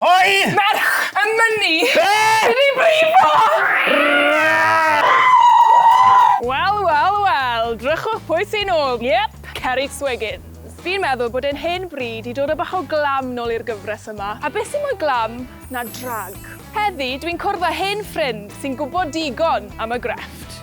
Oi! Merch! Yn mynnu! Be? Mynd i brifo! Wel, wel, wel, drychwch pwy sy nôl, yep, Ceri Swiggins. Fi'n meddwl bod e'n hen bryd i dod â bach o glam nôl i'r gyfres yma, a beth sy'n mwy glam na drag? Heddi, dwi'n cwrdd â hen ffrind sy'n gwybod digon am y grefft.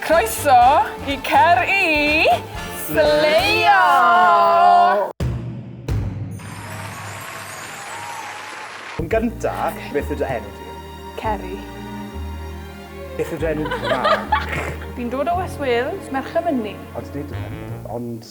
Croeso i Cer i Sleiio! Yn gynta, beth yw dy enw di? Ceri. Beth yw dy enw Cymraeg? Fi'n dod o West Wales, Merchy Myni. Ond nid ond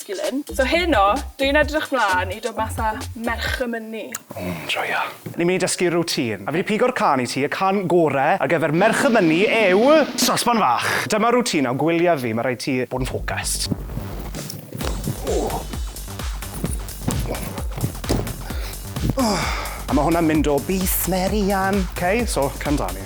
masculine. So heno, dw i'n edrych mlan i dod mas â merch y mynni. O, joio. Ni'n mynd i dysgu routine. A fi 'di pigo'r cân i ti, y cân gore ar gyfer merch y mynni yw Sosban Fach. Dyma routine o gwyliau fi, ma' rhaid ti bod yn focused. A ma' hwnna'n mynd o Beef Mary Ann. Ok, so cam 'da ni.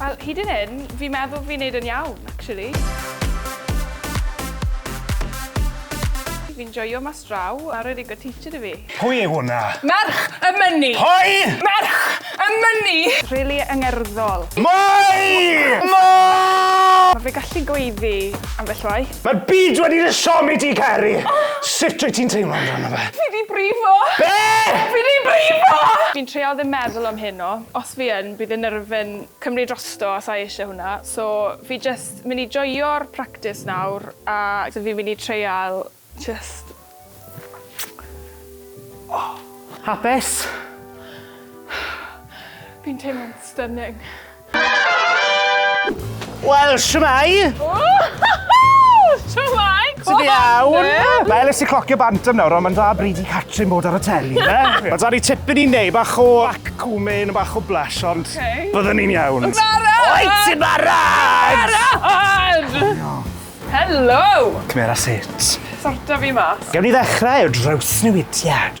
Wel, hyd yn hyn, fi'n meddwl fi'n neud yn iawn, actually. Fi'n joio mas draw, a rwy'n ddigon teacher i fi. Pwy yw hwnna? Merch y mynni! Pwy? Merch y mynni! Rili angerddol. Mwy! Mwy! Mae fe gallu gweiddi ambell waith. Mae'r byd wedi dy siomi di, Ceri! Sut wyt ti'n teimlo amdano fe? Fi di brifo! Be? Fi di brifo! Fi'n treial ddim meddwl am heno. Os fi yn, bydd y nerf yn cymryd drosto a sa i eisiau hwnna. So, fi jyst mynd i joio'r practis nawr a so fi'n mynd i treial jyst... Hapus? Fi'n teimlo'n stunning. Wel, shwmae! Shwmae! Ti'n iawn? Mae Elis i clocio bant am nawr, ond mae'n dda bryd i Catrin bod ar y teli, ie? Mae da ni tipyn i wneud, bach o back combing a bach o blush, ond byddwn ni'n iawn. Yn barod! Wyt ti'n barod? Barod! Helo! Cymera sut? Sorta fi mas. Gewn ni ddechrau o drawsnewidiad.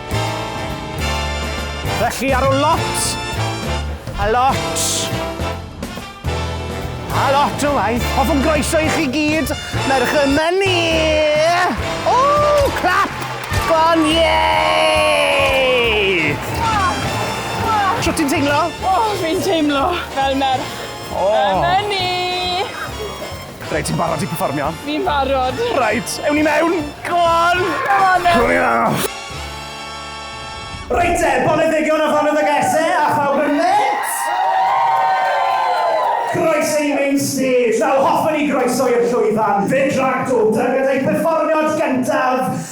Felly ar ôl lot, a lot, a lot o waith, hoffwn groeso i chi gyd, merch yma ni! O, clap! Go on, yay! Shwt ti'n teimlo? O, fi'n teimlo fel merch yma ni! Reit, ti'n barod i perfformio? Fi'n barod! Reit, ewn ni mewn! Go on! Go on then! Hurry up! Reit te, boneddigion a foneddigese a phawb yn mêt! Croeso i main stage! Wel, hoffwn i groeso i'r llwyfan, Fyd Rhagdw, gyda'i perfformiad gyntaf,